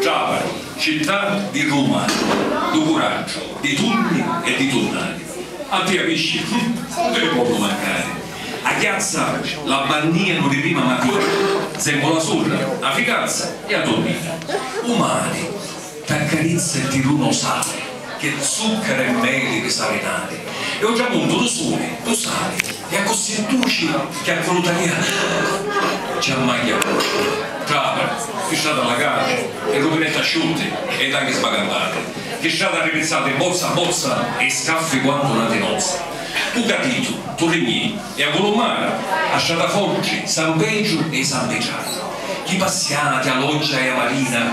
Trapari, città di Ruma, du curaggiu, di tunni e di tunnari. A pia pisci, hum, cu ti li ponnu mancari? A chiazza la bannianu li rima matiti, semu la surra, a ficanza e a tunnina. U mari t'accarizza e ti duna u sali, ch'è zuccaru e meli di salinari, e u tramuntu du suli, du sali. E accussì duci chi a vuluta mia ah! Ci ammagghia a vuci. Trata, Chi strata allagati, e ruvinetti asciutti, e tanghi sbagandati. Chi strata arripizzati, bozza, bozza, e scaffi quantu na tinozza. U capitu, Turrignì, e a Vulummara, a strata forti, San Pedru e i San Pitrari. Chi passiati, a loggia e a marina.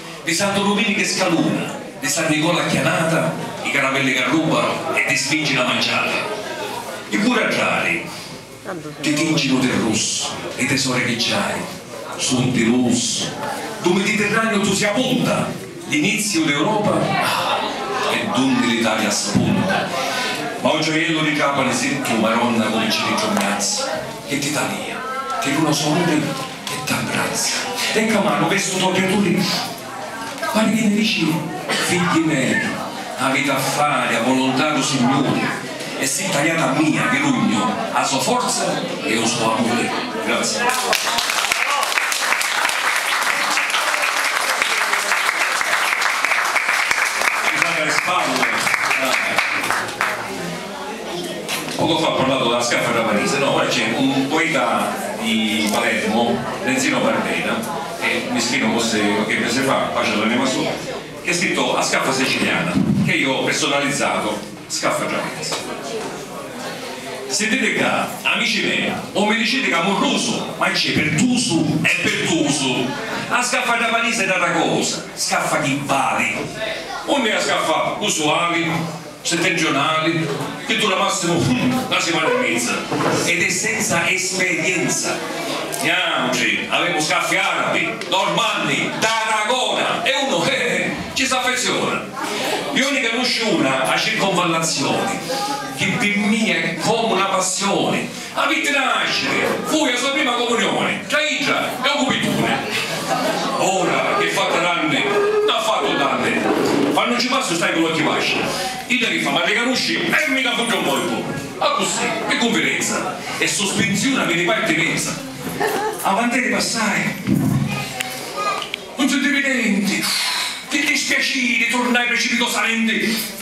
Di Santu Duminichi scaluna, di San Nicola chianata, i caravelli c'arrubanu e ti spinginu a manciari. I curraddari ti tinginu di russu, li tesori chi ciai sun di lusu, du Miditirraniu tu si apunta, l'iniziu d'Europa ah, e dunni l'Italia spunta. Ma o gioiellu di Trapani si tu, Maronna, cuminci di trugnazza, chi ti talia, chi lu nosu amuri. Che t'abbrazza e ca manu ve stu to piaturi Pari chi mi dici Figghi mei, aviti a fari a volontà du Signuri e si taliati a mia vi dugnu a so forza e u so amuri. Grazie. Poco fa ha parlato dâ scaffa dâ Parisi, no, ora c'è un poeta di Palermo, Renzino Barbena, e mischinu cosi che pese fa paci all'anema sua, che ha scritto A scaffa siciliana, che io ho personalizzato Scaffa dâ Parisi. Sintiti ccà, amici mei, o mi diciti ca m'urrusu, ma cci pirtusu e pirtusu! A scaffa dâ Parisi è n'ata cosa, scaffa chi vali! Unni è a scaffa usuali? Settentrionali, chi dura massimu hum na simana e mizza ed è senza esperienza. Niautri avemu scaffi arabi, normanni, d'Aragona e unu he he ci s'affeziona. Iu ni canusciu una, a circonvallazioni, chi pi mia è comu na passioni. Avitti da nasciri, fui a sua prima comunioni, tra idda e u cupituni. Ora chi è fatta d'anni, n'ha fattu tanti, quannu nci passu stai cu l'occhi vasci. Idda chi fa, m'arricanusci e mi da fugghia un corpu, accussì, pi cunfidenza, e suspinziunami di partinenza. Avanteri passai, un sentividenti di dispiaciri turnai precipitosamenti.